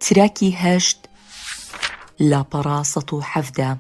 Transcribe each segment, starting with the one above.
تراکی هەشت لاپەڕە سەد و حەڤدە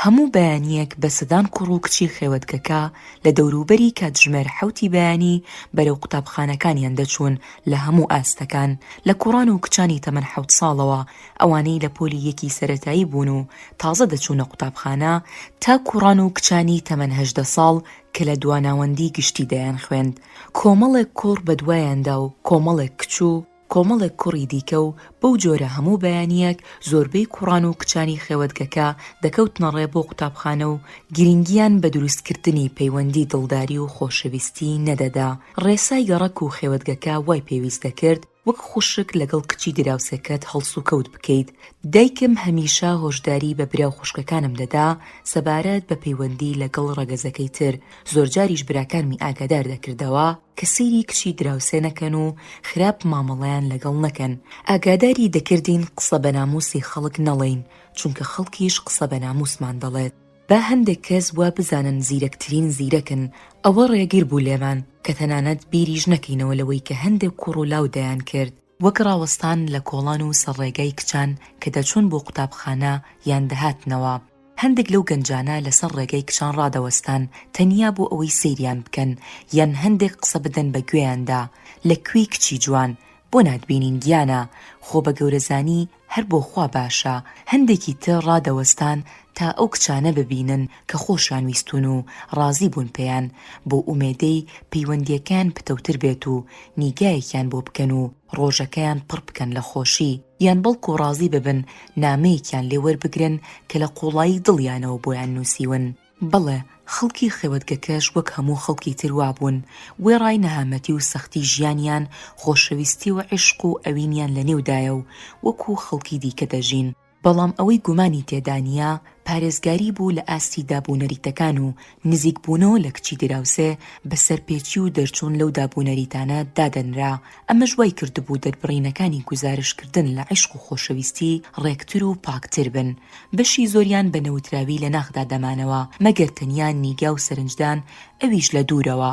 هەموو بەیانیەک بە سەدان کوڕ و کچی خێوەتگەکە لە دەوروبەری کاتژمێر حوتی بەیانی بەرەو قوتابخانەکانیان دەچوون لە هەموو ئاستەکان لە کوڕان و کچانی تەمەن حەوت ساڵەوە ئەوانەی لە پۆلی یەکی سەرەتایی بوون و تازە دەچوونە قوتابخانە، تا کوڕان و کچانی تەمەن هەژدە ساڵ کە لە دواناوەندی گشتی دەیانخوێند، کۆمەڵێک کوڕ بەدوایاندا و کۆمەڵێک کچ و کۆمەڵێک کوڕی دیکە و بەو جۆرە هەموو بەیانییەک زۆربەی کوڕان و کچانی خێوەتگەکە دەکەوتنە ڕێ بۆ قوتابخانە و گرینگییان بە دروستکردنی پەیوەندی دڵداری و خۆشەویستی نەدەدا، ڕێسای گەڕەک و خێوەتگەکە وای پێویست دەکرد، وەک خوشک لەگەڵ کچی دراوسێکەت هەڵسوکەوت بکەیت، دایکم هەمیشە هۆشداری بە برا و خوشکەکانم دەدا سەبارەت بە پەیوەندی لەگەڵ ڕەگەزەکەی تر، زۆرجاریش براکانمی ئاگادار دەکردەوە کە سەیری کچی دراوسێ نەکەن و خراپ مامەڵەیان لەگەڵ نەکەن، ئاگاداری دەکردین قسە بە ناموسی خەڵک نەڵێین، چونکە خەڵکیش قسە بە ناموسمان دەڵێت. با هەندێک کەس وا بزانن زیرەکترین زیرەکن، ئەوە ڕێگر بوو لێمان کە تەنانەت بیریش نەکەینەوە لەوەی کە هەندێک کوڕ و لاو دەیانکرد، وەک ڕاوەستان لە کۆڵان و سەر ڕێگای کچان کە دەچوون بۆ قوتابخانە یان دەهاتنەوە، هەندێک لەو گەنجانە لەسەر ڕێگای کچان ڕادەوەستان تەنیا بۆ ئەوەی سەیریان بکەن یان هەندێک قسە بدەن بە گوێیاندا، لە کوێی کچی جوان؟ بۆ ناتبینین گیانە؟ خۆ بە گەورەزانی هەر بۆ خوا باشە هەندێکی تر ڕادەوەستان تا ئەو کچانە ببینن کە خۆشیان ویستوون و ڕازی بوون پێیان بۆ ئومێدەی پەیوەندیەکەیان پتەوتر بێت و نیگایەکیان بۆ بکەن و ڕۆژەکەیان پڕ بکەن لە خۆشی یان بەڵکو ڕازی ببن نامەیەکیان لێ وەربگرن کە لە قوڵایی دڵیانەوە بۆیان نووسیون. بەڵێ خەڵکی خێوەتگەکەش وەک هەموو خەڵکی تر وابوون، وێڕای نەهامەتی و سەختی ژیانیان، خۆشەویستی و عیشق و ئەوینیان لە نێودایە و وەکوو خەڵکی دیکە دەژین. بەڵام ئەوەی گومانی تێدا نییە، پارێزگاری بوو لە ئاستی داب و نەریتەکان و نزیکبوونەوە لە کچی دراوسێ بە سەرپێچی و دەرچوون لەو داب و نەریتانە دادەنرا، ئەمەش وای کردبوو دەربڕینەکانی گوزارشتکردن لە عیشق و خۆشەویستی ڕێکتر و پاکتر بن، بەشی زۆریان بە نەوتراوی لە ناخدا دەمانەوە، مەگەر تەنیا نیگا و سەرنجدان ئەویش لە دوورەوە،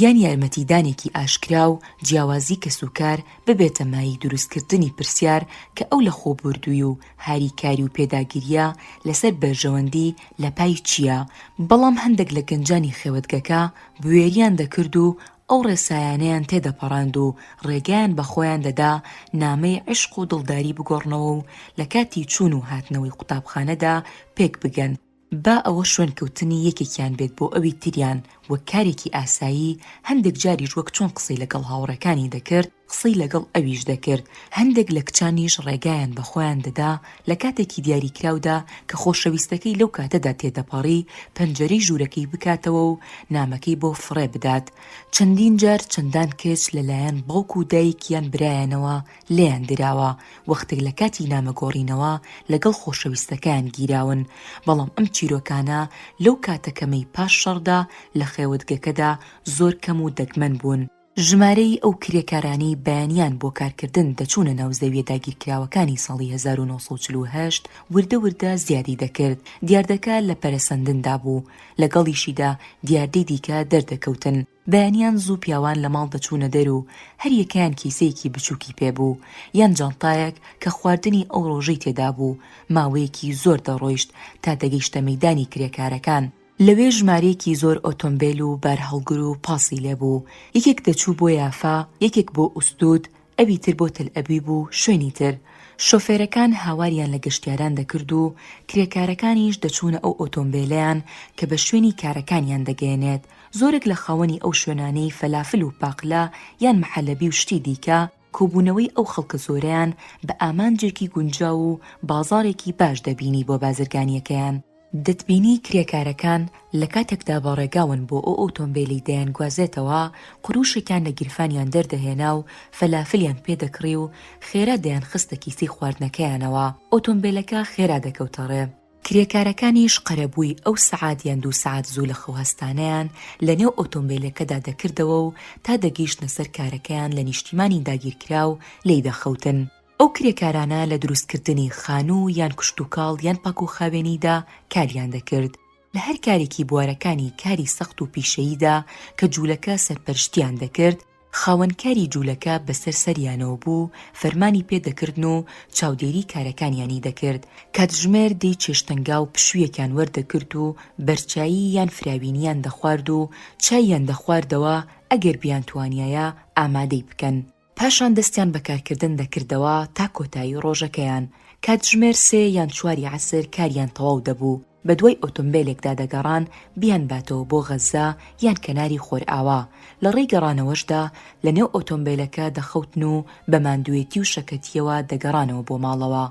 یان یارمەتیدانێکی ئاشکرا و جیاوازی کەسوکار ببێتە مایەی دروستکردنی پرسیار کە ئەو لەخۆبوردووی و هاریکاری و پێداگرییە لەسەر بەرژەوەندی لەپای چییە؟ بەڵام هەندێک لە گەنجانی خێوەتگەکە بوێریان دەکرد و ئەو ڕێسایانەیان تێدەپەڕاند و ڕێگەیان بە خۆیان دەدا نامەی عیشق و دڵداری بگۆڕنەوە و لە کاتی چوون و هاتنەوەی قوتابخانەدا پێک بگەن، با ئەوە شوێنکەوتنی یەکێکیان بێت بۆ ئەوی تریان وەک کارێکی ئاسایی، هەندێک جاریش وەک چۆن قسەی لەگەڵ هاوڕێکانی دەکرد، قسەی لەگەڵ ئەویش دەکرد، هەندێک لە کچانیش ڕێگایان بە خۆیان دەدا لە کاتێکی دیاریکراودا کە خۆشەویستەکەی لەو کاتەدا تێدەپەڕی پەنجەرەی ژوورەکەی بکاتەوە و نامەکەی بۆ فڕێ بدات، چەندین جار چەندان کچ لە لایەن باوک و دایک یان برایانەوە لێیان دراوە وەختێک لە کاتی نامە گۆڕینەوە لەگەڵ خۆشەویستەکەیان گیراون، بەڵام ئەم چیرۆکانە لەو کاتە کەمەی پاش شەڕدا لە خێوەتگەکەدا زۆر کەم و دەگمەن بوون. ژمارەی ئەو کرێکارانەی بەیانیان بۆ کارکردن دەچوونە ناو زەویە داگیرکراوەکانی ساڵی هەزار و نۆ سەد و چل و هەشت وردە وردە زیادی دەکرد، دیاردەکە لە پەرەسەندندا بوو، لەگەڵیشیدا دیاردەی دیکە دەردەکەوتن، بەیانیان زوو پیاوان لە ماڵ دەچوونە دەر و هەر یەکەیان کیسەیەکی بچووکی پێ بوو، یان جانتایەک کە خواردنی ئەو ڕۆژەی تێدا بوو، ماوەیەکی زۆر دەڕۆیشت تا دەگەیشتە مەیدانی کرێکارەکان، لەوێ ژمارەیەکی زۆر ئۆتۆمبێل و بارهەڵگر و پاسی لێ بوو، یەکێک دەچوو بۆ یافا، یەکێک بۆ ئوستود، ئەوی تر بۆ تەلئەبیب و شوێنی تر. شۆفێرەکان هاواریان لە گەشتیاران دەکرد و کرێکارەکانیش دەچوونە ئەو ئۆتۆمبێلەیان کە بە شوێنی کارەکانیان دەگەیەنێت. زۆرێک لە خاوەنی ئەو شوێنانەی فەلافل و پاقلە یان محەلەبی و شتی دیکە، کۆبوونەوەی ئەو خەڵکە زۆرەیان بە ئامانجێکی گونجاو و بازاڕێکی باش دەبینی بۆ بازرگانییەکەیان. دەتبینی کرێکارەکان لە کاتێکدا بە ڕێگاون بۆ ئەو ئۆتۆمبێلەی دەیانگوازێتەوە، قرووشێکیان لە گیرفانیان دەردەهێنا و فەلافلیان پێ دەکڕی و خێرا دەیانخستە کیسەی خواردنەکەیانەوە، ئۆتۆمبێلەکە خێرا دەکەوتە ڕێ. کرێکارەکانیش قەرەبووی ئەو سەعات یان دوو سەعات زوو لە خەو هەستانەیان لە نێو ئۆتۆمبێلەکەدا دەکردەوە و تا دەگەیشتنە سەر کارەکەیان لە نیشتیمانی داگیرکراو لێی دەخەوتن. ئەو کرێکارانە لە دروستکردنی خانوو یان کشتوکاڵ یان پاکوخاوێنیدا کاریان دەکرد، لە هەر کارێکی بوارەکانی کاری سەخت و پیشەییدا کە جوولەکە سەرپەرشتییان دەکرد، خاوەنکاری جوولەکە بەسەر سەریانەوە بوو و فەرمانی پێ دەکردن و چاودێری کارەکانیانی دەکرد، کاتژمێر دەی چێشتەنگاو پشوویەکیان وەردەگرت و بەرچایی یان فراوینیان دەخوارد و چاییان دەخواردەوە ئەگەر بیانتوانیایە ئامادەی بکەن، پاشان دەستیان بە کارکردن دەکردەوە تا کۆتایی ڕۆژەکەیان، کاتژمێر سێ یان چواری عەسر کاریان تەواو دەبوو. بەدوای ئۆتۆمبێلێکدا دەگەڕان بیانباتەوە بۆ غەززە یان کەناری خۆرئاوا، لەڕێی گەڕانەوەشدا لەنێو ئۆتۆمبێلەکە دەخوتن و بە ماندووێتی و شەکەتییەوە دەگەڕانەوە بۆ ماڵەوە.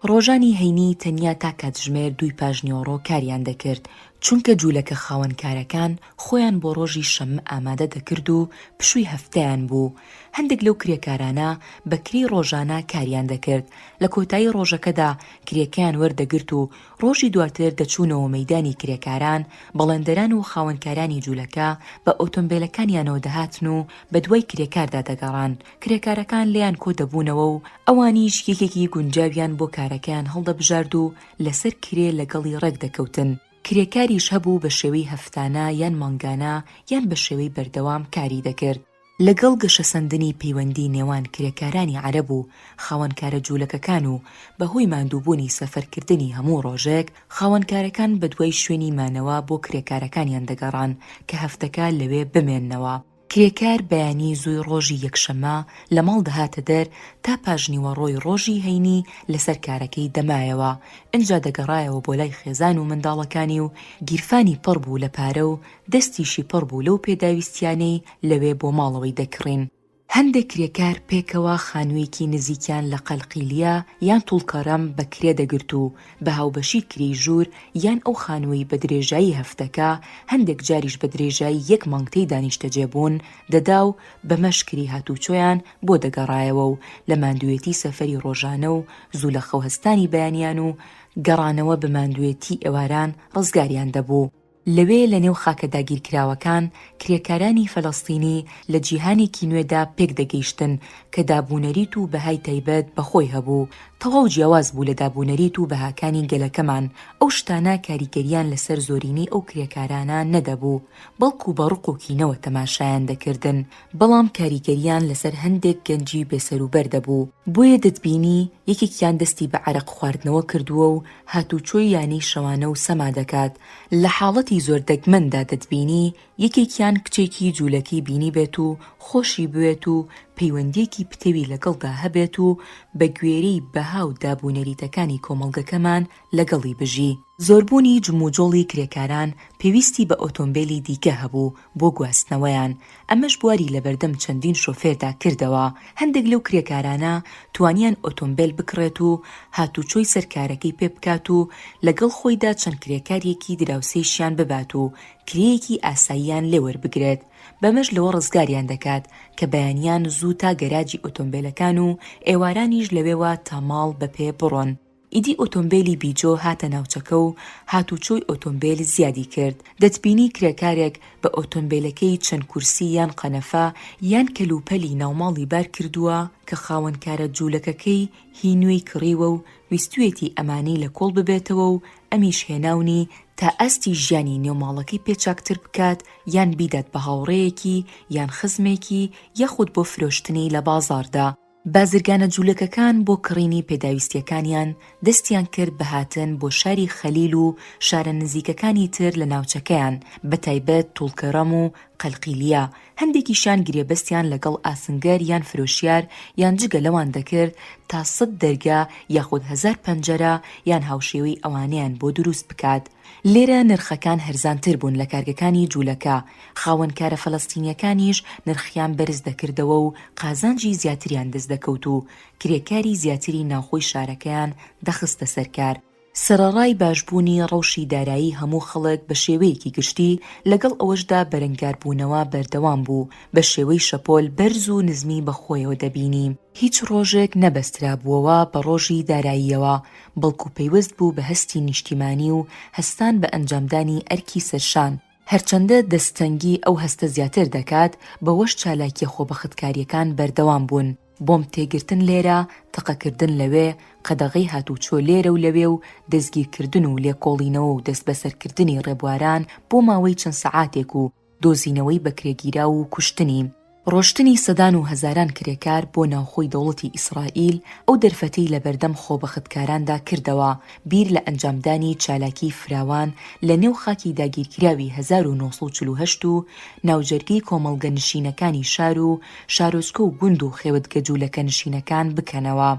ڕۆژانی هەینی تەنیا تا کاتژمێر دووی پاشنیوەڕۆ کاریان دەکرد، چونکە جوولەکە خاوەنکارەکان خۆیان بۆ ڕۆژی شەممە ئامادە دەکرد و پشووی هەفتەیان بوو. هەندێک لەو کرێکارانە بە کرێی ڕۆژانە کاریان دەکرد، لە کۆتایی ڕۆژەکەدا کرێکەیان وەردەگرت و ڕۆژی دواتر دەچوونەوە مەیدانی کرێکاران، بەڵێندەران و خاوەنکارانی جولەکە بە ئۆتۆمبێلەکانیانەوە دەهاتن و بەدوای کرێکاردا دەگەڕان، کرێکارەکان لێیان کۆدەبوونەوە و ئەوانیش یەکێکی گونجاویان بۆ کارەکەیان هەڵدەبژارد و لەسەر کرێ لەگەڵی ڕێکدەکەوتن، کرێکاریش هەبوو بەشێوەی هەفتانە یان مانگانە یان بەشێوەی بەردەوام کاری دەکرد. لەگەڵ گەشەسەندنی پەیوەندی نێوان کرێکارانی عەرەب و خاوەن کارە جوولەکەکان و بە هۆی ماندووبوونی سەفەرکردنی هەموو ڕۆژێک، خاوەنکارەکان بە دوای شوێنی مانەوە بۆ کرێکارەکانیان دەگەڕان کە هەفتەکە لەوێ بمێننەوە. کرێکار بەیانی زووی ڕۆژی یەکشەممە لە ماڵ دەهاتە دەر تا پاژنیوەڕۆی ڕۆژی هەینی لەسەر کارەکەی دەمایەوە، ئنجا دەگەڕایەوە بۆ لای خێزان و منداڵەکانی و گیرفانی پڕ بوو لە پارە و دەستیشی پڕ بوو لەو پێداویستییانەی لەوێ بۆ ماڵەوەی دەکڕین. هەندێک کرێکار پێکەوە خانوویەکی نزیکیان لە قەلقیلیە یان توڵکەرەم بە کرێ دەگرت و بە هاوبەشی کرێی ژوور یان ئەو خانووەی بە درێژایی هەفتەکە، هەندێک جاریش بە درێژایی یەک مانگ تێیدا نیشتەجێ بوون، دەدا و بەمەش کرێی هاتووچۆیان بۆ دەگەڕایەوە و لە ماندووێتی سەفەری ڕۆژانە و زوو لەخەوهەستانی بەیانیان و گەڕانەوە بە ماندووێتی ئێواران ڕزگاریان دەبوو. لەوێ لە نێو خاکە داگیرکراوەکان کرێکارانی فەلەستینی لە جیهانێکی نوێدا پێکدەگەیشتن کە دابونەریت و بەهای تایبەت بە خۆی هەبوو تەواو جیاواز بوو لە دابونەریت و بەهاکانی گەلەکەمان، ئەو شتانە کاریگەرییان لەسەر زۆرینەی ئەو کرێکارانە نەدەبوو بەڵکو بە ڕق و کینەوە تەماشایان دەکردن بەڵام کاریگەرییان لەسەر هەندێک گەنجی بێسەروبەر دەبوو بۆیە دەتبینی یەکێکیان دەستی بە عەرەق خواردنەوە کردووە و هاتووچۆی یانەی شەوانە و سەما دەکات، لە حاڵەتی زۆر دەگمەندا دەتبینی یەکێکیان کچێکی جوولەکەی بینیبێت و خۆشی بوێت و پەیوەندییەکی پتەوی لەگەڵدا هەبێت و بە گوێرەی بەها و داب و نەریتەکانی کۆمەڵگەکەمان لەگەڵی بژی. زۆربوونی جموجۆڵی کرێکاران پێویستی بە ئۆتۆمبێلی دیکە هەبوو بۆ گواستنەوەیان، ئەمەش بواری لەبەردەم چەندین شۆفێردا کردەوە، هەندێک لەو کرێکارانە توانیان ئۆتۆمبێل بکڕێت و هاتوچۆی سەر کارەکەی پێ بکات و لەگەڵ خۆیدا چەند کرێکاریەکی دراوسێیشیان ببات و کرێیەکی ئاساییان لێ وەربگرێت بەمەش لەوە ڕزگاریان دەکات کە بەیانیان زوو تا گەراجی ئۆتۆمبێلەکان و ئێوارانیش لەوێوە تا ماڵ بەپێ بڕۆن. ئیدی ئۆتۆمبێلی بیجۆ هاتە ناوچەکە و هاتوچۆی ئۆتۆمبێل زیادی کرد، دەتبینی کرێکارێک بە ئۆتۆمبێلەکەی چەند کورسی یان قەنەفە یان کەلوپەلی ناوماڵی بار کردووە کە خاوەنکارە جوولەکەکەی هی نوێی کڕیوە و ویستویەتی ئەمانەی لە کۆڵ ببێتەوە و ئەمیش هێناونی تا ئاستی ژیانی نێو ماڵەکەی پێ چاکتر بکات یان بیدات بە هاوڕێیەکی یان خزمێکی یاخود بۆ فرۆشتنی لە بازاڕدا. بازرگانە جوولەکەکان بۆ کڕینی پێداویستییەکانیان دەستیان کرد بە هاتن بۆ شاری خەلیل و شارە نزیکەکانی تر لە ناوچەکەیان، بەتایبەت توڵکەڕەم و قەلقیلیە، هەندێکیشیان گرێبەستیان لەگەڵ ئاسنگەر یان فرۆشیار یان جگە لەوان دەکرد تا سەد دەرگا یاخود هەزار پەنجەرە یان هاوشێوەی ئەوانەیان بۆ دروست بکات، لێرە نرخەکان هەرزانتر بوون لە کارگەکانی جوولەکە، خاوەن کارە فەلەستینییەکانیش نرخیان بەرز دەکردەوە و قازانجی زیاتریان دەست دەکەوت و کرێکاری زیاتری ناوخۆی شارەکەیان دەخستە سەر کار. سەرەڕای باشبوونی ڕەوشی دارایی هەموو خەڵک بە شێوەیەکی گشتی، لەگەڵ ئەوەشدا بەرەنگاربوونەوە بەردەوام بوو، بە شێوەی شەپۆل بەرز و نزمی بەخۆیەوە دەبینی. هیچ ڕۆژێک نەبەسترابووەوە بە ڕۆژی داراییەوە، بەڵکو پەیوەست بوو بە هەستی نیشتیمانی و هەستان بە ئەنجامدانی ئەرکی سەرشان، هەرچەندە دەستتەنگی ئەو هەستە زیاتر دەکات، بەوەش چالاکیە خۆبەختکاریەکان بەردەوام بوون، بۆمب تێگرتن لێرە، تەقەکردن لەوێ، قەدەغەی هاتوچۆ لێرە و لەوێ و دەستگیرکردن و لێکۆڵینەوە و دەستبەسەرکردنی ڕێبواران بۆ ماوەی چەند سەعاتێک و دۆزینەوەی بەکرێگیراو و کوشتنی، ڕۆشتنی سەدان و هەزاران کرێکار بۆ ناوخۆی دەوڵەتی ئیسرائیل، ئەو دەرفەتەی لەبەردەم خۆبەختکاراندا کردەوە، بیر لە ئەنجامدانی چالاکیی فراوان لە نێو خاکی داگیرکراوی هەزار و نۆ سەد و چل و هەشت و ناوجەرگەی کۆمەڵگەنشینەکانی شار و شارۆچکە و گوند و خێوەتگەجوولەکەنشینەکان بکەنەوە.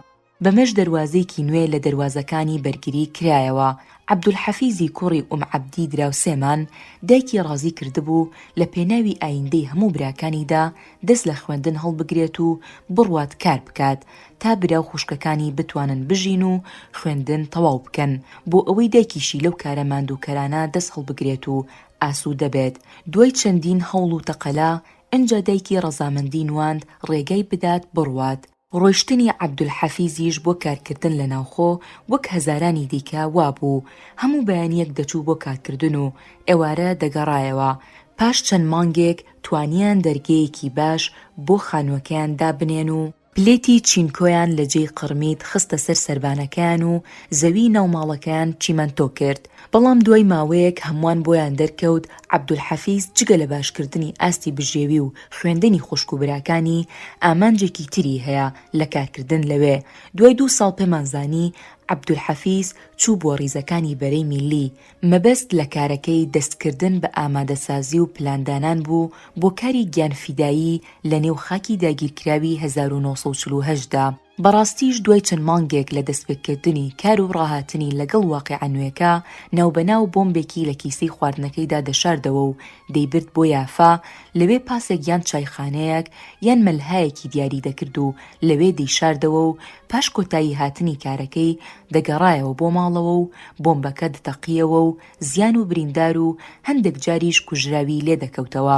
بەمەش دەروازەیەکی نوێ لە دەروازەکانی بەرگری کرایەوە، عەبدولحەفیزی کوڕی ئوم عەبدی دراوسێمان، دایکی ڕازی کردبوو لە پێناوی ئایندەی هەموو براکانیدا دەست لە خوێندن هەڵبگرێت و بڕوات کار بکات تا برا و خوشکەکانی بتوانن بژین و خوێندن تەواو بکەن بۆ ئەوەی دایکیشی لەو کارە ماندووکەرانە دەست هەڵبگرێت و ئاسوودە بێت. دوای چەندین هەوڵ و تەقەلا، ئنجا دایکی ڕەزامەندی نواند ڕێگای بدات بڕوات، ڕۆیشتنی عەبدولحەفیزیش بۆ کارکردن لە ناوخۆ وەک هەزارانی دیکە وابوو، هەموو بەیانییەک دەچوو بۆ کارکردن و ئێوارە دەگەڕایەوە، پاش چەند مانگێک توانییان دەرگەیەکی باش بۆ خانووەکەیان دابنێن و، پلێتی چینکۆیان لە جێی قڕمیت خستە سەر سەربانەکەیان و زەویی ناو ماڵەکەیان چیمەنتۆ کرد، بەڵام دوای ماوەیەک هەمووان بۆیان دەرکەوت عەبدولحەفیز جگە لە باشکردنی ئاستی بژێوی و خوێندنی خوشک و براکانی، ئامانجێکی تری هەیە لە کارکردن لەوێ، دوای دوو ساڵ پێمان زانی عەبدولحەفیز چوو بۆ ریزەکانی بەرەی میللی، مەبەست لە کارەکەی دەستکردن بە ئامادەسازی و پلاندانان بوو بۆ کاری گیانفیدایی لە نێو خاکی داگیرکراوی هەزار و نۆ سەد و چل و هەشت دا. بەڕاستیش دوای چەند مانگێک لە دەستپێکردنی کار و ڕاهاتنی لەگەڵ واقیعە نوێکە، ناوبەناو بۆمبێکی لە کیسەی خواردنەکەیدا دەشاردەوە و دەیبرد بۆ یافا، لەوێ پاسێک یان چایخانەیەک یان مەلهایەکی دیاری دەکرد و لەوێ دەیشاردەوە و پاش کۆتایی هاتنی کارەکەی دەگەڕایەوە بۆ ماڵەوە و بۆمبەکە دتەقییەوە و زیان و بریندار و هەندێک جاریش کوژراوی لێ دەکەوتەوە.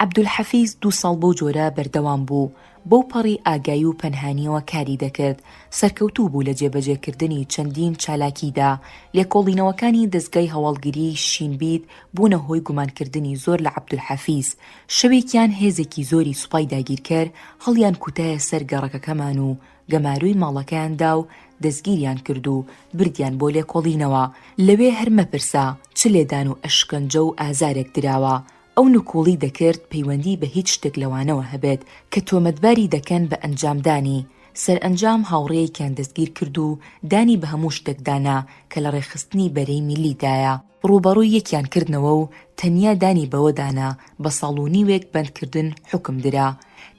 عەبدولحەفیز دوو ساڵ بەو جۆرە بەردەوام بوو، بەو پەڕی ئاگایی و پەنهانییەوە کاری دەکرد، سەرکەوتوو بوو لە جێبەجێکردنی چەندین چالاکییدا، لێکۆڵینەوەکانی دەزگای هەواڵگریی شین بیت بوونە هۆی گومانکردنی زۆر لە عەبدولحەفیز، شەوێکیان هێزێکی زۆری سوپای داگیرکەر هەڵیانکوتایە سەر گەڕەکەکەمان و گەمارۆی ماڵەکەیان دا و دەستگیریان کرد و بردیان بۆ لێکۆڵینەوە، لەوێ هەر مەپرسە چ لێدان و ئەشکەنجە و ئازارێک دراوە، ئەو نکوڵی دەکرد پەیوەندی بە هیچ شتێک لەوانەوە هەبێت کە تۆمەتباری دەکەن بە ئەنجامدانی، سەرئەنجام هاوڕێیەکیان دەستگیرکرد و دانی بە هەموو شتێکدا نا کە لە ڕێکخستنی بەرەی میللیدایە، ڕووبەڕووی یەکیان کردنەوە و تەنیا دانی بەوەدا نا، بە ساڵ و نیوێک بەندکردن حوکم درا،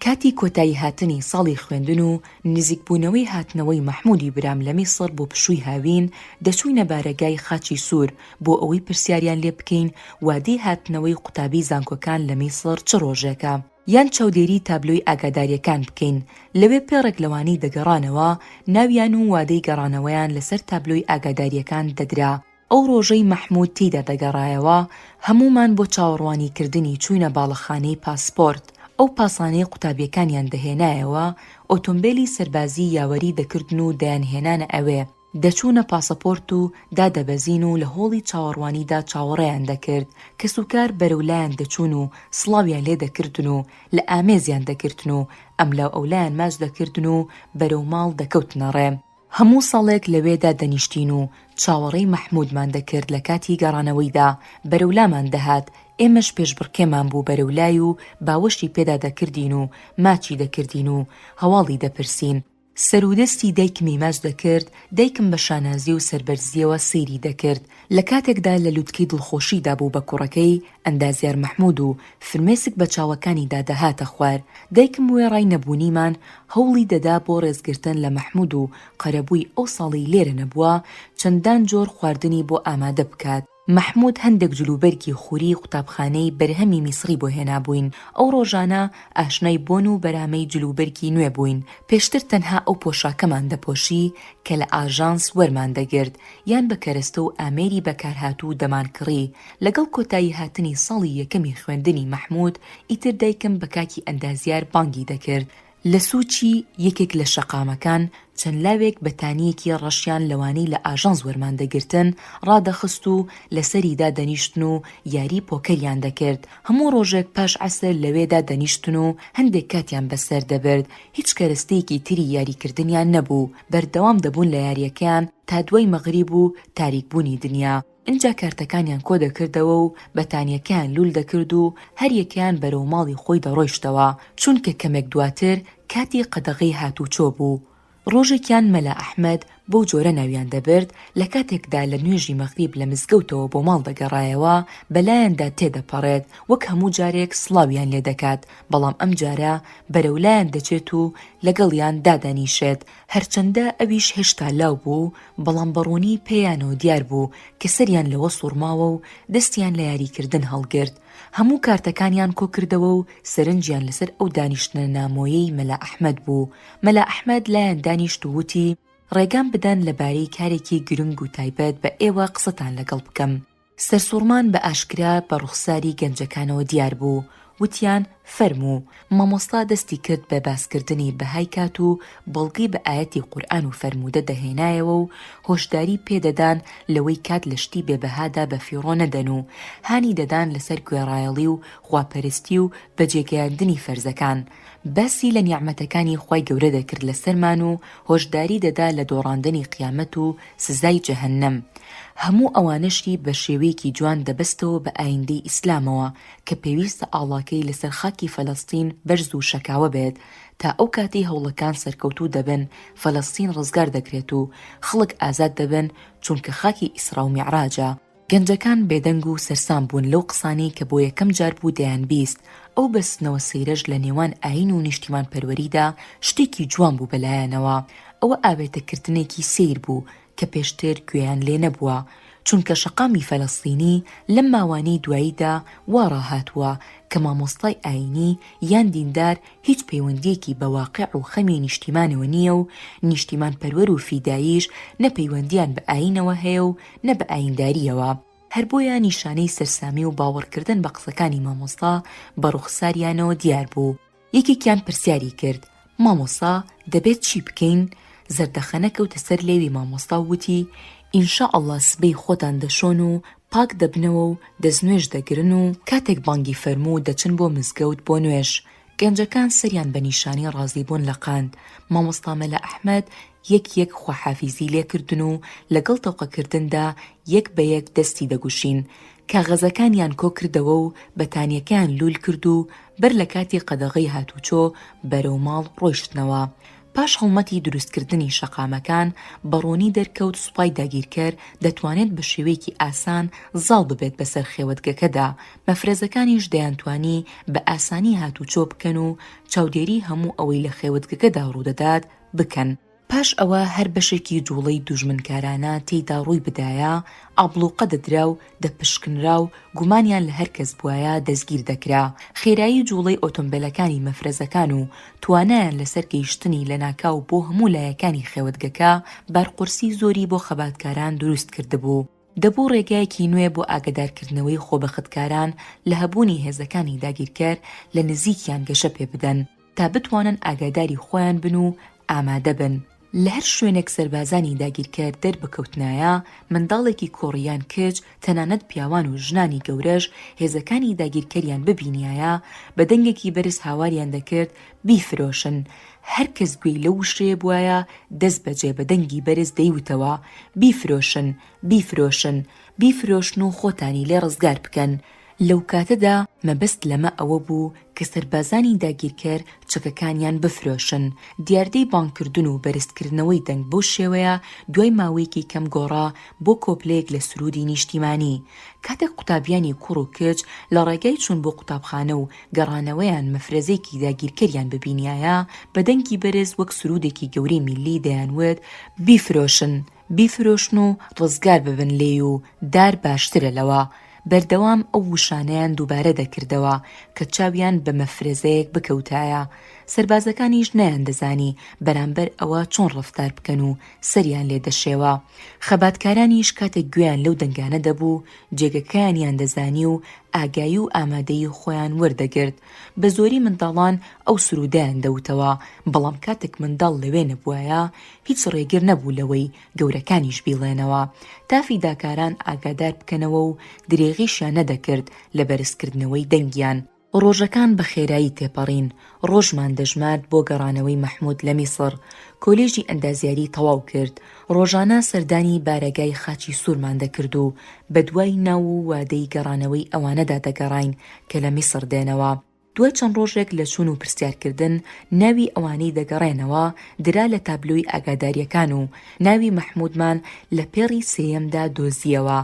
کاتی کۆتاییهاتنی ساڵی خوێندن و نزیکبوونەوەی هاتنەوەی مەحموودی برام لە میسڕ بۆ پشووی هاوین، دەچووینە بارەگای خاچی سوور بۆ ئەوەی پرسیاریان لێ بکەین وادەی هاتنەوەی قوتابیی زانکۆکان لە میسڕ چ ڕۆژێکە؟ یان چاودێریی تابلۆی ئاگادارییەکان بکەین، لەوێ پێڕێک لەوانەی دەگەڕانەوە، ناویان و وادەی گەڕانەوەیان لەسەر تابلۆی ئاگادارییەکان دەدرا. ئەو ڕۆژەی مەحمود تێیدا دەگەڕایەوە هەموومان بۆ چاوەڕوانی کردنی چووینە باڵەخانەی پاسپۆرت، ئەو پاسانەی قوتابیەکانیان دەهێنایەوە ئۆتۆمبێلی سەربازی یاوەری دەکردن و دەیان هێنانە ئەوێ، دەچوونە پاسەپۆرت و دادەبەزین و لە هۆڵی چاوەڕوانیدا چاوەڕێیان دەکرد، کەسوکار بەرەو لایان دەچوون و سڵاویان لێ دەکردن و لە ئامێزیان دەگرتن و ئەملاو ئەولایان ماچ دەکردن و بەرەو ماڵ دەکەوتنە ڕێ. هەموو ساڵێک لەوێدا دەنیشتین و چاوەڕێی مەحموودمان دەکرد لە کاتی گەڕانەوەیدا بەرەو لامان دەهات، ئێمەش پێشبڕکێمان بوو بەرەو لای و باوەشی پێدا دەکردین و ماچی دەکردین و هەواڵی دەپرسین، سەرو دەستی دایکمی ماچ دەکرد، دایکم بە شانازی و سەربەرزییەوە سەیری دەکرد، لە کاتێکدا لە لوتکەی دڵخۆشیدا بوو بە کوڕەکەی، ئەندازیار مەحموود، و فرمێسک بە چاوەکانیدا دەهاتە خوار، دایکم وێڕای نەبوونیمان هەوڵی دەدا بۆ ڕێزگرتن لە مەحموود و قەرەبووی ئەو ساڵی لێرە نەبووە، چەندان جۆر خواردنی بۆ ئامادە بکات. مەحموود هەندێک جلوبەرگی خوری قوتابخانەی بەرهەمی میسڕی بۆ هێنابووین، ئەو ڕۆژانە ئاشنای بۆن و بەرامەی جلوبەرگی نوێ بووین، پێشتر تەنها ئەو پۆشاکەمان دەپۆشی کە لە ئاژانس وەرمان دەگرت، یان بە کەرەستە و ئامێری بەکارهاتوو دەمانکڕی، لەگەڵ کۆتایی هاتنی ساڵی یەکەمی خوێندنی مەحموود، ئیتر دایکم بە کاکی ئەندازیار بانگی دەکرد، لە سووچی یەکێک لە شەقامەکان چەند لاوێک بەتانییەکی ڕەشیان لەوانەی لە ئاژانس وەرمان دەگرتن ڕادەخست و لەسەری دادەنیشتن و یاری پۆکەریان دەکرد، هەموو ڕۆژێک پاش عەسر لەوێ دادەنیشتن و هەندێک کاتیان بەسەر دەبرد، هیچ کەرەستەیەکی تری یاریکردنیان نەبوو، بەردەوام دەبوون لە یارییەکەیان، تا دوای مەغریب و تاریک بوونی دنیا، ئینجا کارتەکانیان کۆ دەکردەوە و بەتانیەکەیان لول دەکرد و هەریەکەیان بەرەو ماڵی خۆی دەڕۆیشتەوە، چونکە کەمێک دواتر کاتی قەدەغەی هاتوچۆ بوو. ڕۆژێکیان مەلا ئەحمەد بەو جۆرە ناویان دەبرد، لە کاتێکدا لە نوێژی مەغریب لە مزگەوتەوە بۆ ماڵ دەگەڕایەوە، بەلایاندا تێدەپەڕێت، وەک هەموو جارێک سڵاویان لێ دەکات، بەڵام ئەمجارە بەرەو لایان دەچێت و لەگەڵیان دادەنیشێت، هەرچەندە ئەویش هێشتا لاو بوو، بەڵام بە ڕوونی پێیانەوە دیار بوو کە سەریان لەوە سووڕماوە و دەستیان لە یاریکردن هەڵگرت. هەموو کارتەکانیان کۆ کردەوە و سەرنجیان لەسەر ئەو دانیشتنە نامۆیەی مەلا ئەحمەد بوو. مەلا ئەحمەد لایان دانیشت و وتی، ڕێگام بدەن لەبارەی کارێکی گرنگ و تایبەت بە ئێوە قسەتان لەگەڵ بکەم. سەرسوڕمان بە ئاشکرا بە ڕوخساری گەنجەکانەوە دیار بوو، وتیان، فەرموو، مامۆستا دەستی کرد بە باسکردنی بەهای کات و بەڵگەی بە ئایەتی قورئان و فەرموودە دەهێنایەوە و هۆشداری پێ دەدان لەوەی کات لە شتی بێ بەهادا بە فیڕۆ نەدەن و هانی دەدان لەسەر گوێڕایەڵی و خواپەرستی و بەجێگەیاندنی فەرزەکان باسی لە نیعمەتەکانی خوای گەورە دەکرد لەسەرمان و هۆشداری دەدا لە دۆڕاندەنی قیامەت و سزای جەهەنەم، هەموو ئەوانەشی بە شێوەیەکی جوان دەبەستەوە بە ئایندەی ئیسلامەوە کە پێویستە ئاڵاکەی لەسەر خاکی فەلەستین بەرز و شەکاوە بێت تا ئەو کاتەی هەوڵەکان سەرکەوتوو دەبن فەلەستین ڕزگار دەکرێت و خەڵک ئازاد دەبن چونکە خاکی ئیسراو میعراجە. گەنجەکان بێدەنگ و سەرسام بوون لەو قسانەی کە بۆ یەکەم جار بوو دەیانبیست، ئەو بەستنەوە سەیرەش لە نێوان ئایین و نیشتیمانپەروەریدا شتێکی جوان بوو بە لایانەوە ئەوە ئاوێتەکردنێکی سەیر بوو کە پێشتر گوێیان لێ نەبووە، چونکە شەقامی فەلەستینی لەم ماوانەی دواییدا وا ڕاهاتووە کە مامۆستای ئایینی یان دیندار هیچ پەیوەندییەکی بە واقع و خەمی نیشتیمانەوە نییە و نیشتیمانپەروەر و فیداییش نە پەیوەندییان بە ئایینەوە هەیە و نە بە ئاییندارییەوە، هەر بۆیە نیشانەی سەرسامی و باوەڕکردن بە قسەکانی مامۆستا بە ڕووخساریانەوە دیار بوو، یەکێکیان پرسیاری کرد، مامۆستا دەبێت چی بکەین؟ زەردەخەنە کەوتە سەر لێوی مامۆستا و وتی، ان شاء اللە سبەی خۆتان دەشۆن و پاک دەبنەوە و دەستنوێژ دەگرن و کاتێک بانگی فەرموو دەچن بۆ مزگەوت بۆ نوێژ، گەنجەکان سەریان بە نیشانی ڕازیبوون لەقاند، مامۆستا مەلا ئەحمەد یەک یەک خواحافیزی لێکردن و لەگەڵ تەوقەکردندا یەک بە یەک دەستی دەگوشین، کاغەزەکانیان کۆکردەوە و بەتانیەکەیان لوول کرد و بەر لە کاتی قەدەغەی هاتوچۆ بەرەو ماڵ ڕۆیشتنەوە، پاش هەڵمەتی دروستکردنی شەقامەکان، بە ڕوونی دەرکەوت سوپای داگیرکەر دەتوانێت بە شێوەیەکی ئاسان زاڵ ببێت بەسەر خێوەتگەکەدا، مەفرەزەکانیش دەیانتوانی بە ئاسانی هاتووچۆ بکەن و چاودێری هەموو ئەوەی لە خێوەتگەکەدا ڕوودەدات بکەن. پاش ئەوە هەر بەشێکی جووڵەی دوژمنکارانە تێیدا ڕووی بدایە، ئابڵووقە دەدرا و دەپشکنرا و گومانیان لە هەر کەس بوایە دەستگیر دەکرا، خێرایی جوڵەی ئۆتۆمبێلەکانی مەفرەزەکان و توانایان لەسەر گەیشتنی لەناکاو بۆ هەموو لایەکانی خێوەتگەکە بارقورسی زۆری بۆ خەباتکاران دروست کردبوو، دەبوو ڕێگایەکی نوێ بۆ ئاگەدارکردنەوەی خۆبەختکاران لە هەبوونی هێزەکانی داگیرکەر لە نزیکیان گەشە پێبدەن. تا بتوانن ئاگاداری خۆیان بن و ئامادە بن، لە هەر شوێنێک سەربازانی داگیرکەر دەربکەوتنایە، منداڵێکی کوڕ یان کچ، تەنانەت پیاوان و ژنانی گەورەش هێزەکانی داگیرکەریان ببینیایە، بە دەنگێکی بەرز هاواریان دەکرد بیفرۆشن، هەر کەس گوێی لەو وشەیە بوایە دەستبەجێ بە دەنگی بەرز دەیوتەوە، بیفرۆشن، بیفرۆشن، بیفرۆشن و خۆتانی لێ ڕزگار بکەن، لەو کاتەدا مەبەست لەمە ئەوە بوو کە سەربازانی داگیرکەر چەکەکانیان بفرۆشن، دیاردەی بانگکردن و بەرزکردنەوەی دەنگ بەو شێوەیە دوای ماوەیەکی کەم گۆڕا بۆ کۆپلەیەک لە سروودی نیشتیمانی. کاتێک قوتابیانی کوڕ و کچ لە ڕێگای چوون بۆ قوتابخانە و گەڕانەوەیان مەفرەزەیەکی داگیرکەریان ببینیایە بە دەنگی بەرز وەک سروودێکی گەورەی میللی دەیانوت بیفرۆشن، بیفرۆشن و ڕزگار ببن لێی و دار باشترە لەوە، بەردەوام ئەو وشانەیان دووبارە دەکردەوە کە چاویان بە مەفرەزەیەک بکەوتایە، سەربازەکانیش نەیاندەزانی بەرامبەر ئەوە چۆن ڕەفتار بکەن و سەریان لێ دەشێوا، خەباتکارانیش کاتێک گوێیان لەو دەنگانە دەبوو جێگەکەیانیان دەزانی و ئاگایی و ئامادەیی خۆیان وەردەگرت، بە زۆری منداڵان ئەو سروودەیان دەوتەوە، بەڵام کاتێک منداڵ لەوێ نەبوایە هیچ ڕێگر نەبوو لەوەی گەورەکانیش بیڵێنەوە، تا فیداکاران ئاگادار بکەنەوە و درێغیشیان نەدەکرد لە بەرزکردنەوەی دەنگیان. ڕۆژەکان بە خێرایی تێپەڕین، ڕۆژمان دەژمارد بۆ گەڕانەوەی مەحموود لە میسڕ، کۆلێژی ئەندازیاری تەواو کرد، ڕۆژانە سەردانی بارەگای خاچی سوورمان دەکرد و بەدوای ناو و وادەی گەڕانەوەی ئەوانەدا دەگەڕاین کە لە میسڕ دێنەوە، دوای چەند ڕۆژێک لە چوون و پرسیارکردن، ناوی ئەوانەی دەگەڕێنەوە درا لە تابلۆی ئاگادارییەکان و ناوی مەحموودمان لە پێڕی سێیەمدا دۆزییەوە،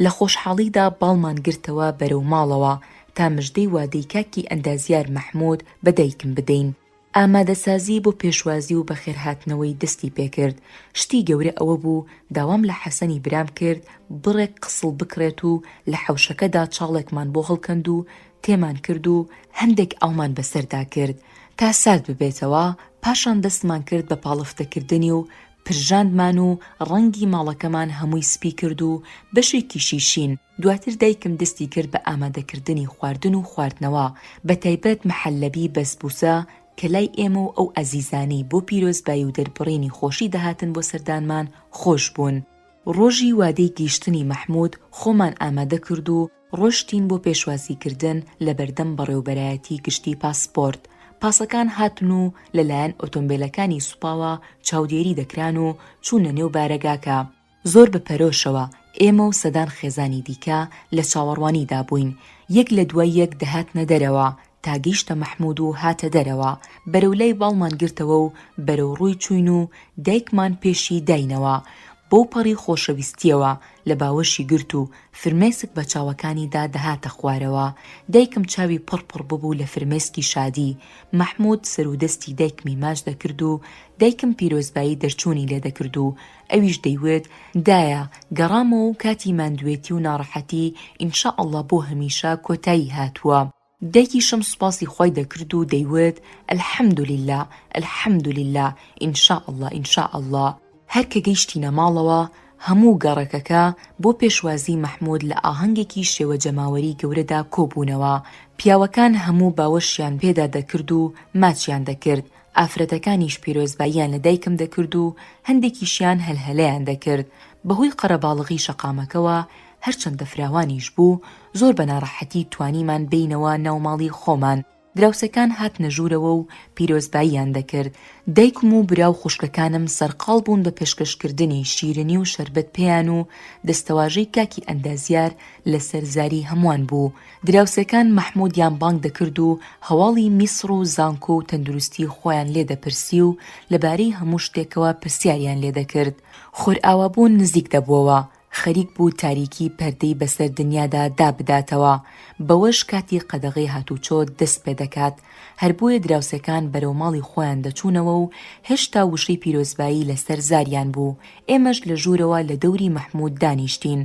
لە خۆشحاڵیدا باڵمان گرتەوە بەرەو ماڵەوە، تا مژدەی وادەی کاکی ئەندازیار مەحموود بە دایکم بدەین. ئامادەسازی بۆ پێشوازی و بەخێرهاتنەوەی دەستی پێکرد، شتی گەورە ئەوە بوو داوام لە حەسەنی برام کرد بڕێک قسڵ بکڕێت و لە حەوشەکەدا چاڵێکمان بۆ هەڵکەند و تێمان کرد و هەندێک ئاومان بەسەردا کرد تا سارد ببێتەوە، پاشان دەستمان کرد بە پاڵفتەکردنی و پرژاندمان و ڕەنگی ماڵەکەمان هەمووی سپی کرد و بەشێکیشی شین. دواتر دایکم دەستی کرد بە ئامادەکردنی خواردن و خواردنەوە، بە تایبەت مەحەللەبی بەسبووسە کە لای ئێمە و ئەو ئەزیزانەی بۆ پیرۆزبایی و دەربڕینی خۆشی دەهاتن بۆ سەردانمان خۆش بوون. ڕۆژی وادەی گەیشتنی مەحموود خۆمان ئامادە کرد و ڕۆشتین بۆ پێشوازیکردن لە بەردەم بەڕێوەبەرایەتی گشتی پاسپۆرت، پاسەکان هاتن و لەلایەن ئۆتۆمبێلەکانی سوپاوە چاودێری دەکران و چوونە نێو بارەگاکە. زۆر بە پەرۆشەوە ئێمە و سەدان خێزانی دیکە لە چاوەڕوانیدا بووین، یەک لە دوای یەک دەهاتنە دەرەوە، تا گەیشتە مەحموود و هاتە دەرەوە، بەرەو لای باڵمان گرتەوە و بەرەو ڕووی چووین و دایکمان پێشی داینەوە، بەو پەڕی خۆشەویستییەوە لە باوەشی گرت و فرمێسک بە چاوەکانیدا دەهاتە خوارەوە، دایکم چاوی پڕ پڕ ببوو لە فرمێسکی شادی، مەحموود سەر و دەستی دایکمی ماچ دەکرد و دایکم پیرۆزبایی دەرچوونی لێ دەکرد و ئەویش دەیوت، دایە، گەڕامەوە و کاتی ماندوێتی و ناڕەحەتی، ان شاء اللە بۆ هەمیشە، کۆتایی هاتووە. دایکیشم سوپاسی خوای دەکرد و دەیوت، الحمدللە، الحمدللە، ان شاء اللە، ان شاء اللە. هەر کە گەیشتینە ماڵەوە، هەموو گەڕەکەکە بۆ پێشوازیی مەحموود لە ئاهەنگێکی شێوە جەماوەریی گەورەدا کۆ بوونەوە. پیاوەکان هەموو باوەشیان پێدا دەکرد و ماچیان دەکرد، ئافرەتەکانیش پیرۆزباییان لە دایکم دەکرد و هەندێکیشیان هەلهەلەیان دەکرد، بەهۆی قەرەباڵغی شەقامەکەوە هەرچەندە فراوانیش بوو، زۆر بە ناڕەحەتی توانیمان بێینەوە ناو ماڵی خۆمان، دراوسێکان هاتنە ژوورەوە و پیرۆزباییان دەکرد، دایکم و برا و خوشکەکانم سەرقاڵ بوون بە پێشکەشکردنی شیرنی و شەربەت پێیان و دەستەواژەی کاکی ئەندازیار لەسەر زاری هەمووان بوو، دراوسێکان مەحمودیان بانگ دەکرد و هەواڵی میسڕ و زانکۆ و تەندروستی خۆیان لێ دەپرسی و لەبارەی هەموو شتێکەوە پرسیاریان لێ دەکرد. خۆرئاوابوون نزیک دەبووەوە، خەریک بوو تاریکی پەردەی بەسەر دنیادا دابداتەوە، بەوەش کاتی قەدەغەی هاتوچۆ دەست پێ دەکات، هەر بۆیە دراوسێکان بەرەو ماڵی خۆیان دەچوونەوە و هێشتا وشەی پیرۆزبایی لەسەر زاریان بوو، ئێمەش لە ژوورەوە لە دەوری مەحموود دانیشتین،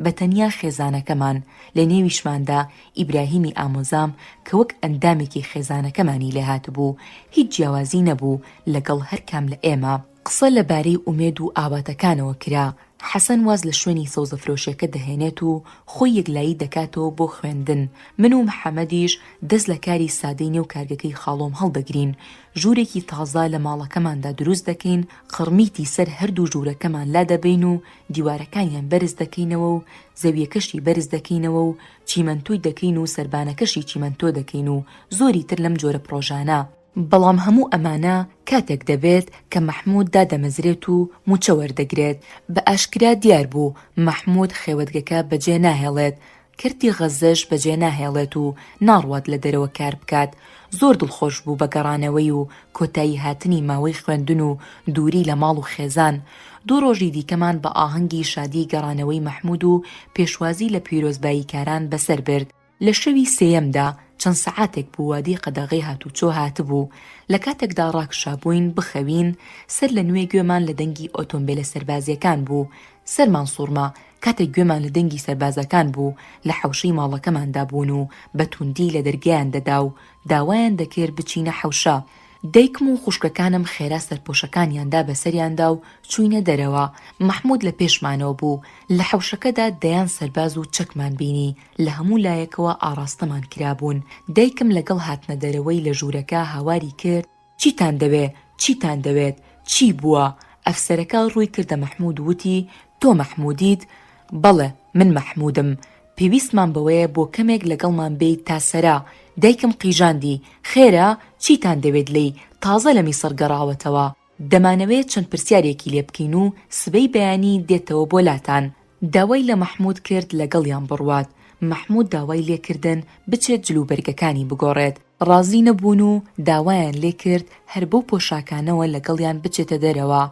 بە تەنیا خێزانەکەمان، لە نێویشماندا ئیبراهیمی ئامۆزام کە وەک ئەندامێکی خێزانەکەمانی لێ هاتبوو، هیچ جیاوازی نەبوو لەگەڵ هەر کام لە ئێمە. قسە لە بارەی ئومێد و ئاواتەکانەوە کرا، حەسەن واز لە شوێنی سەوزەفرۆشێکە دەهێنێت و خۆی یەکلایی دەکاتەوە بۆ خوێندن، من و محەمەدیش دەست لە کاری سادەی نێو کارگەکەی خاڵۆم هەڵدەگرین، ژوورێکی تازە لە ماڵەکەماندا دروست دەکەین، قڕمیتی سەر هەردوو ژوورەکەمان لادەبەین و دیوارەکانیان بەرز دەکەینەوە و زەویەکەشی بەرز دەکەینەوە و چیمەنتۆی دەکەین و سەربانەکەشی چیمەنتۆ دەکەین و زۆری تر لەم جۆرە پڕۆژانە، بەڵام هەموو ئەمانە کاتێک دەبێت کە مەحموود دادەمەزرێت و مووچە وەردەگرێت، بە ئاشکرا دیار بوو مەحموود خێوەتگەکە بەجێ ناهێڵێت، کەرتی غەززەش بەجێناهێڵێت و ناڕوات لە دەرەوە کاربکات، زۆر دڵخۆش بوو بە گەڕانەوەی و کۆتایی هاتنی ماوەی خوێندن و دووری لە ماڵ و خێزان، دوو ڕۆژی دیکەمان بە ئاهەنگی شادی گەڕانەوەی مەحمود و پێشوازی لە پیرۆزباییکاران بەسەر برد، لە شەوی سێیەمدا چەند سەعاتێک بوو وادەی قەدەغەی هاتوچۆ هاتبوو، لە کاتێکدا ڕاکشابووین بخەوین، سەر لە نوێ گوێمان لە دەنگی ئۆتۆمبێلە سەربازییەکان بوو، سەرمان سوڕما، کاتێک گوێمان لە دەنگی سەربازەکان بوو لە حەوشەی ماڵەکەماندا بوون و بە توندی لە دەرگایان دەدا و داوایان دەکرد بچینە حەوشە، دایکم و خوشکەکانم خێرا سەرپۆشەکانیان دا بەسەریاندا و چووینە دەرەوە، مەحموود لە پێشمانەوە بوو، لە حەوشەکەدا دەیان سەرباز و چەکمان بینی لە هەموو لایەکەوە ئاڕاستەمان کرابوون، دایکم لەگەڵ هاتنە دەرەوەی لە ژوورەکە هاواری کرد، چیتان دەوێ چیتان دەوێت چی بووە؟ ئەفسەرەکە ڕووی کردە مەحموود وتی، تۆ مەحموودیت؟ بەڵێ من مەحموودم، پێویستمان بەوەیە بۆ کەمێک لەگەڵمان بێیت تا سەرا، دایکم قیژاندی، خێرە چیتان دەوێت لێی، تازە لە میسڕ گەڕاوەتەوە، دەمانەوێ چەند پرسیارێکی لێ بکەین و سبەی بەیانی دێتەوە بۆ لاتان. داوای لە مەحمود کرد لەگەڵیان بڕوات، مەحمود داوای لێکردن بچێت جلوبەرگەکانی بگۆڕێت، ڕازی نەبوون و داوایان لێکرد هەر بەو پۆشاکانەوە لەگەڵیان بچێتە دەرەوە،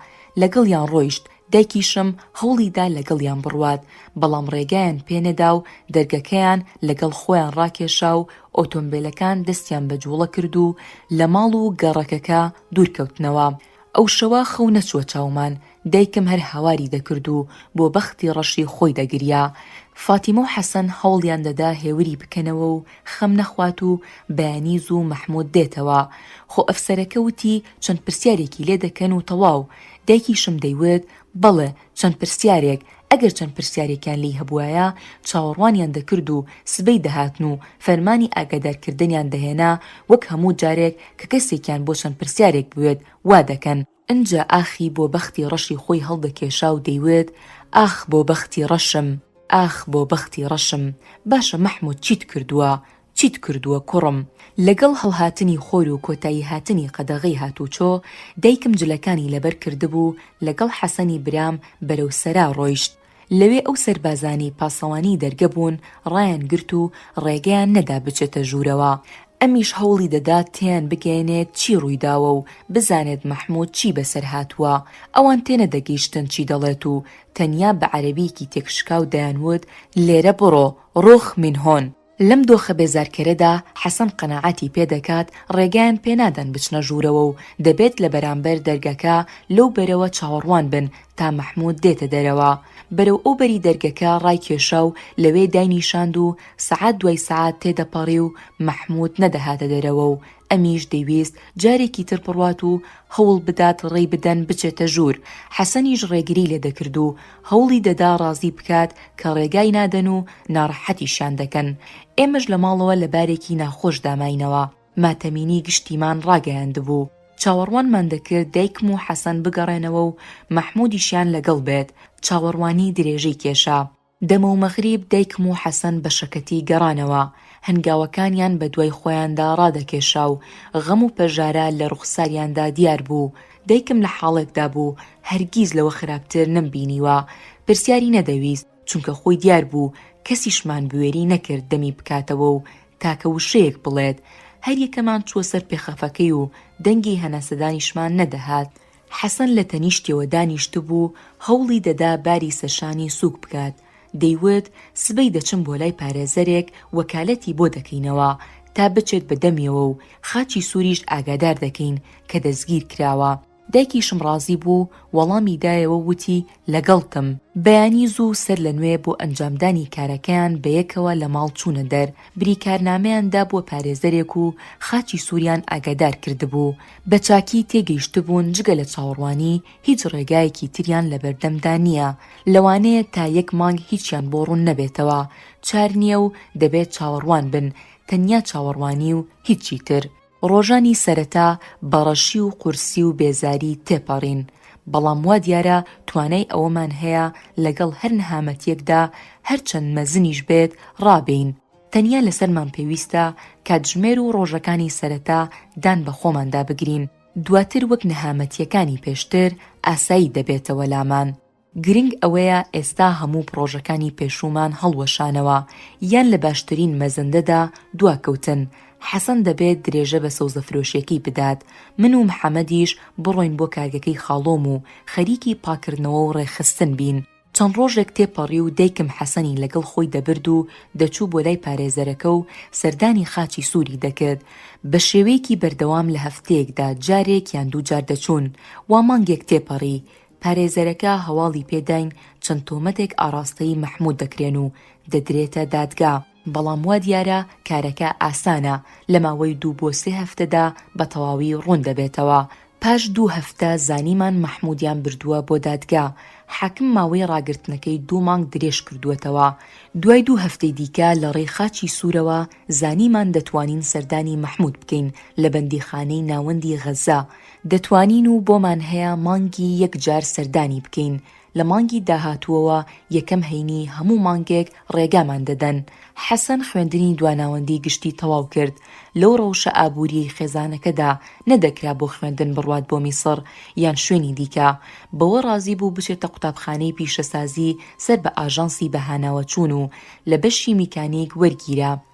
لەگەڵیان ڕۆیشت، دایکیشم هەوڵی دا لەگەڵیان بڕوات، بەڵام ڕێگایان پێ نەدا و دەرگەکەیان لەگەڵ خۆیان ڕاکێشا و ئۆتۆمبێلەکان دەستیان بە جوڵە کرد و لە ماڵ و گەڕەکەکە دوورکەوتنەوە، ئەو شەوە خەو نەچووە چاومان، دایکم هەر هاواری دەکرد و بۆ بەختی ڕەشی خۆی دەگریا. فاتیمە و حەسەن هەوڵیان دەدا هێوری بکەنەوە و خەم نەخوات و بەیانی زوو مەحموود دێتەوە. خۆ ئەفسەرەکە وتی چەند پرسیارێکی لێ دەکەن و تەواو. دایکیشم دەیوت بەڵێ. چەند پرسیارێک، ئەگەر چەند پرسیارێکیان لێی هەبوایە، چاوەڕوانیان دەکرد و سبەی دەهاتن و فەرمانی ئاگادارکردنیان دەهێنا، وەک هەموو جارێک کە کەسێکیان بۆ چەند پرسیارێک بوێت وا دەکەن، ئنجا ئاخی بۆ بەختی ڕەشی خۆی هەڵدەکێشا و دەیوت، ئاخ بۆ بەختی ڕەشم، ئاخ بۆ بەختی ڕەشم، باشە مەحموود چیت کردووە، چیت کردووە کوڕم؟ لەگەڵ هەڵهاتنی خۆر و کۆتاییهاتنی قەدەغەی هاتوچۆ، دایکم جلەکانی لەبەر کردبوو، لەگەڵ حەسەنی برام بەرەو سەرا ڕۆیشت. لەوێ ئەو سەربازانەی پاسەوانی دەرگە بوون ڕایانگرت و ڕێگەیان نەدا بچێتە ژوورەوە. ئەمیش هەوڵی دەدا تێیان بگەیەنێت چی ڕوویداوە و بزانێت مەحموود چی بەسەر هاتووە. ئەوان تێنەدەگەیشتن چی دەڵێت و تەنیا بە عەرەبییەکی تێکشکاو دەیانوت، لێرە بڕۆ، روخ من هون. لەم دۆخە بێزارکەرەدا حەسەن قەناعەتی پێ دەکات ڕێگایان پێ نادەن بچنە ژوورەوە و دەبێت لە بەرامبەر دەرگەکە لەو بەرەوە چاوەڕوان بن تا مەحموود دێتە دەرەوە. بەرەو ئەو بەری دەرگەکە ڕایکێشا و لەوێ داینیشاند و سەعات دوای سەعات تێدەپەڕی و مەحموود نەدەهاتە دەرەوە و ئەمیش دەیویست جارێکی تر بڕوات و هەوڵ بدات ڕێی بدەن بچێتە ژوور، حەسەنیش ڕێگری لێ دەکرد و هەوڵی دەدا ڕازی بکات کە ڕێگای نادەن و ناڕەحەتیشیان دەکەن. ئێمەش لە ماڵەوە لە بارێکی ناخۆش داماینەوە. ماتەمینی گشتیمان ڕاگەیاندبوو. چاوەڕوانمان دەکرد دایکم و حەسەن بگەڕێنەوە و مەحموودیشیان لەگەڵ بێت. چاوەڕوانی درێژەی کێشا. دەمەو مەغریب دایکم و حەسەن بە شەکەتی گەڕانەوە، هەنگاوەکانیان بە دوای خۆیاندا ڕادەکێشا و غەم و پەژارە لە ڕوخساریاندا دیار بوو، دایکم لە حاڵێکدا بوو هەرگیز لەوە خراپتر نەمبینیوە، پرسیاری نەدەویست چونکە خۆی دیار بوو، کەسیشمان بوێری نەکرد دەمی بکاتەوە و تاکە وشەیەک بڵێت، هەریەکەمان چووە سەر پێخەفەکەی و دەنگی هەناسەدانیشمان نەدەهات، حەسەن لە تەنیشتیەوە دانیشتبوو، هەوڵی دەدا باری سەرشانی سووک بکات، دەیوت، سبەی دەچم بۆ لای پارێزەرێک وەکالەتی بۆ دەکەینەوە تا بچێت بە دەمیەوە و خاچی سووریشت ئاگادار دەکەین کە دەستگیر کراوە. دایکیشم ڕازی بوو، وەڵامی دایەوە و وتی، لەگەڵتم. بەیانی زوو سەر لە نوێ بۆ ئەنجامدانی کارەکەیان بە یەکەوە لە ماڵ چوونە دەر، بریکارنامەیان دابووە پارێزەرێک و خاچی سووریان ئاگادار کردبوو بە چاکی تێگەیشتبوون جگە لە چاوەڕوانی هیچ ڕێگایەکی تریان لە بەردەمدا نییە، لەوانەیە تا یەک مانگ هیچیان بۆ ڕوون نەبێتەوە، چار نییە و دەبێت چاوەڕوان بن، تەنیا چاوەڕوانی و هیچی تر. ڕۆژانی سەرەتا بە ڕەشی و قورسی و بێزاری تێپەڕین، بەڵام وا دیارە توانای ئەوەمان هەیە لەگەڵ هەر نەهامەتییەکدا هەرچەند مەزنیش بێت ڕابێین، تەنیا لەسەرمان پێویستە کاتژمێر و ڕۆژەکانی سەرەتا دان بە خۆماندا بگرین، دواتر وەک نەهامەتییەکانی پێشتر ئاسایی دەبێتەوە لامان. گرنگ ئەوەیە ئێستا هەموو پڕۆژەکانی پێشوومان هەڵوەشانەوە یان لە باشترین مەزەندەدا دواکەوتن، حەسەن دەبێت درێژە بە سەوزەفرۆشییەکەی بدات، من و محەمەدیش بڕۆین بۆ کارگەکەی خاڵۆم و خەریکی پاککردنەوە و ڕێکخستن بین. چەند ڕۆژێک تێپەڕی و دایکم حەسەنی لەگەڵ خۆی دەبرد و دەچوو بۆ لای پارێزەرەکە و سەردانی خاچی سووری دەکرد. بە شێوەیەکی بەردەوام لە هەفتەیەکدا جارێک یان دوو جار دەچوون. وا مانگێک تێپەڕی. پارێزەرەکە هەواڵی پێ داین چەند تۆمەتێک ئاڕاستەی مەحموود دەکرێن و دەدرێتە دادگا. بەڵام وا دیارە کارەکە ئاسانە، لە ماوەی دوو بۆ سێ هەفتەدا بە تەواوی ڕوون دەبێتەوە. پاش دوو هەفتە زانیمان مەحموودیان بردووە بۆ دادگا، حاکم ماوەی ڕاگرتنەکەی دوو مانگ درێژ کردووەتەوە. دوای دوو هەفتەی دیکە لە ڕێی خاچی سوورەوە زانیمان دەتوانین سەردانی مەحموود بکەین لە بەندیخانەی ناوەندی غەززە، دەتوانین و بۆمان هەیە مانگی یەک جار سەردانی بکەین، لە مانگی داهاتووەوە یەکەم هەینی هەموو مانگێک ڕێگامان دەدەن. حەسەن خوێندنی دواناوەندی گشتی تەواو کرد، لەو ڕەوشە ئابووریەی خێزانەکەدا نەدەکرا بۆ خوێندن بڕوات بۆ میسڕ یان شوێنی دیکە، بەوە ڕازی بوو بچێتە قوتابخانەی پیشەسازی سەر بە ئاژانسی بەهاناوەچوون و لە بەشی میکانیک وەرگیرا.